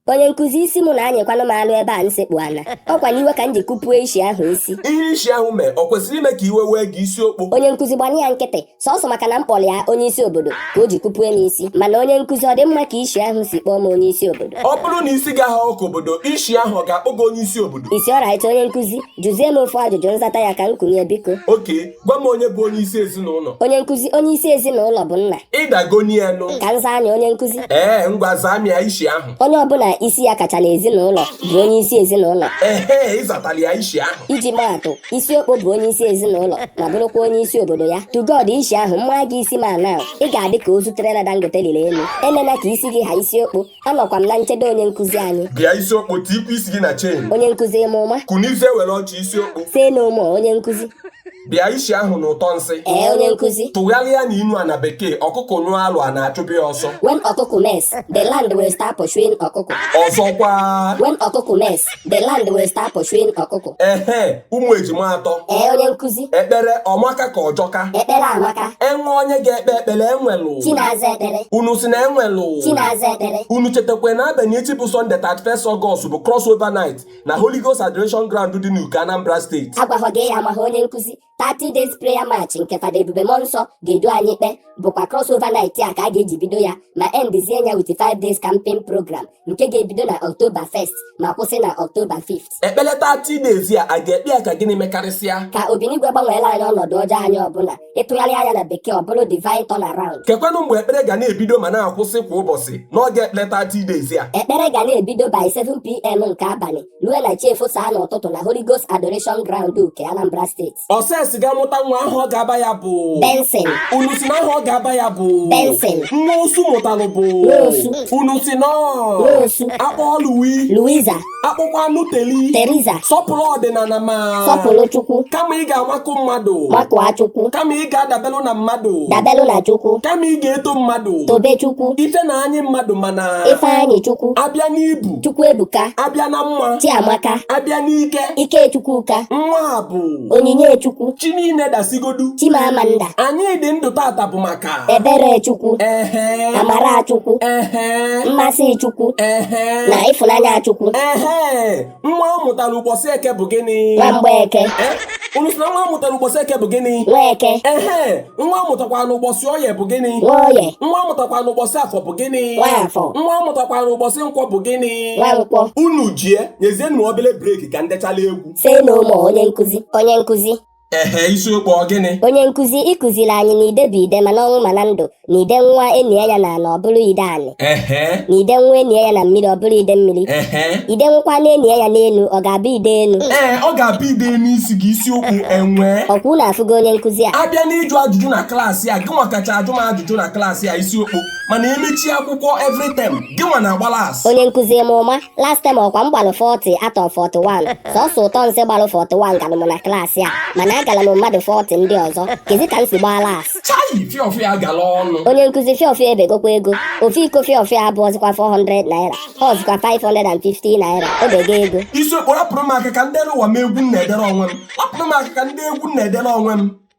onye nkụzi isi mụ na-anyịkwanụ m alụ ebe a m sekpu ana ọ kwa n'iwe ka m ji kụpue isi ahụ isi ihe isi ahụ mee ọ kwesịrị ime ka iwe wee gị isi okpo onye nkụzi gbanụ ya nkịtị sọsọ maka na m kpọrọ ya onye isi obodo ka o ji kụpue m isi mana onye nkụzi ọ dị mma ka isi ahụ si kpọọ m onye isi obodo ọ bụrụ na isi gị ahaọ ka obodo isi ahụ ọ ga-akpọ gị onye isi obodo isi alright onye nkụzi jụzie m ofu ajụjụ m zata ya ka m kunie biko okay gwa m onye bụ onye isi ezinụlọ onye nkụzi onye isi ezinụlọ bụ nna ị dagoni ya nụ ka m zaa nya onye nkụzi ee ngwa zaa m ya isi ahụ onye ọbụla isi ya kacha n'ezinụlọ bụ onye isi ezinụlọ ehe ị zatara ya isi ahụ iji maa atụ isi okpo bụ onye isi ezinụlọ ma bụrụkwa onye isi obodo ya to God isi ahụ m maa gị isi ma na ị ga-adị ka ozu trailer Dangote lịlị enu emena ka isi gị ha isi okpo Anọkwa m na nchedo onye nkụzi anyị. Bịa isi okpo tikwa isi gị na chain. Onye nkụzi ị ma ụma. Kunizie were oche isi okpo. Say no more onye nkụzi. Bịa isi ahụ na ụtọ nsị. Ee onye nkụzi. Tụgharịa na inu a na bekee ọkụkụ nyụọ alụ ana achụbe ya ọsọ. When ọkụkụ mess, the land will start pursuing ọkụkụ. Ọzọkwa. When ọkụkụ mess, The land will start pursuing ọkụkọ. Ehe, ụmụ ejima atọ. Ee, onye nkụzi. Ekpere ọ maka ka ọ jọka. Ekpere amaka. E nwee onye ga-ekpe ekpere e nwelụ. Chi na-aza ekpere. Unu sị na e nwelụ. Chi na-aza ekpere. Unu chetakwa na abalị echi bụ Sunday 31st August bụ crossover night na Holy Ghost Adoration Ground dị n'Uke Anambra State. Agwaghọ gị ya amaghị onye nkụzi. 30 days prayer march nke Fada Ebube Mmụọ Nsọ ga-edu anyị ikpe bụkwa crossover night a ka a ga-eji bido ya ma endizie ya with 5 days camping program nke ga-ebido na October 1st ma kwụsị na October 5th ekpere 30 days a a ga-ekpe ya ka gịnị mekarịsịa ka Obinigwe gbanweelụ anyị ọnọdụ ọjọọ anyị ọbụla ị tụgharịa nya na bekee ọ bụrụ divine turnaround kekwanụ mgbe ekpere ga na-ebido ma na-akwụsị kwa ụbọchị n'oge ekpere 30 days a ekpere ga na-ebido by 7pm nke abalị lue na chi efosaa n'ụtụtụ na Holy Ghost Adoration Ground Uke Anambra State Ọses ga-amụta nwa aha ọ ga-aba ya bụ Benson unu sị na aha ọ ga-aba ya bụ Benson nwa osu mụtalụ bụ Nwosu. unu sị na Nwosu. a kpọọ Louis Louisa a kpọkwanụ Teli Teresa sọpụrụ ọdịnala ma sọpụrụ Chukwu kama ị ga-amakụ mmadụ makụọ Chukwu kama ị ga-adabelụ na mmadụ dabelụ na Chukwu kama ị ga-eto mmadụ tobe Chukwu ife na-anyị mmadụ mana Ifeanyi Chukwu a bịa n'ibu Chukwu Ebuka a bịa na mma Chiamaka a bịa n'ike Ike Chukwu ka nwa bụ Onyinye Chukwu chi niile dasịgodu Chimamanda anyị dị ndụ tata bụ maka Ebere Chukwu ehe Amara Chukwu ehe Mmasị Chukwu ehe na Ịfụnanya Chukwu ehe nwa a mụtara ụbọchị eke bụ gịnị Nwamgbeke Eh, unu sị na nwa a mụtara ụbọchị eke bụ gịnị Nweke ehe nwa a mụtakwa n'ụbọchị oye bụ gịnị Nwoye nwa a mụtakwa n'ụbọchị afọ bụ gịnị Nwafọ. nwa a mụtakwa n'ụbọchị nkwọ bụ gịnị Nwankwọ unu jie nyezienụ obere break ka ndechala egwu say no more onye nkụzi ehe isi okpo ọ gịnị onye nkụzi ị kụziri anyị na ide bụ ide ma n'ọnwụ ma na ndụ na ide nwụọ enie ya na ana ọ bụrụ ide anị ehe na ide nwụọ enie ya na mmiri ọ bụrụ ide mmiri ehe ide nwụkwanụ enie ya n'enu ọ ga-abụ ide enu ee ọ ga-abụ ide n'isi gị isi okpo enwe ọkwa unu afụgo onye nkụzi a abịa n'ịjụ ajụjụ na klaasị a gịnwa kacha ajụ m ajụjụ na klaasị a isi okpo mana emechie akwụkwọ every term gịnwa na-agba last onye nkụzi ị ma ụma last time ọkwa m gbalụ 40 out of 41 sọsọ ụtọ nsị gbalụ 41 galụ m na klaasị a mana agala m mmadụ 40 ndị ọzọ kezi ka m si gbaa last chayi fiofio gala ọnụ onye nkụzi fiofio ebegokwa ego ofu iko fiofio abụọzikwa 400 naira ọzikwa 550 naira o bego ego isi okpo rapụrụ m aka ka m dewe egwu m na-edere onwe m rapụrụ m aka ka m dee egwu m na-edere onwe m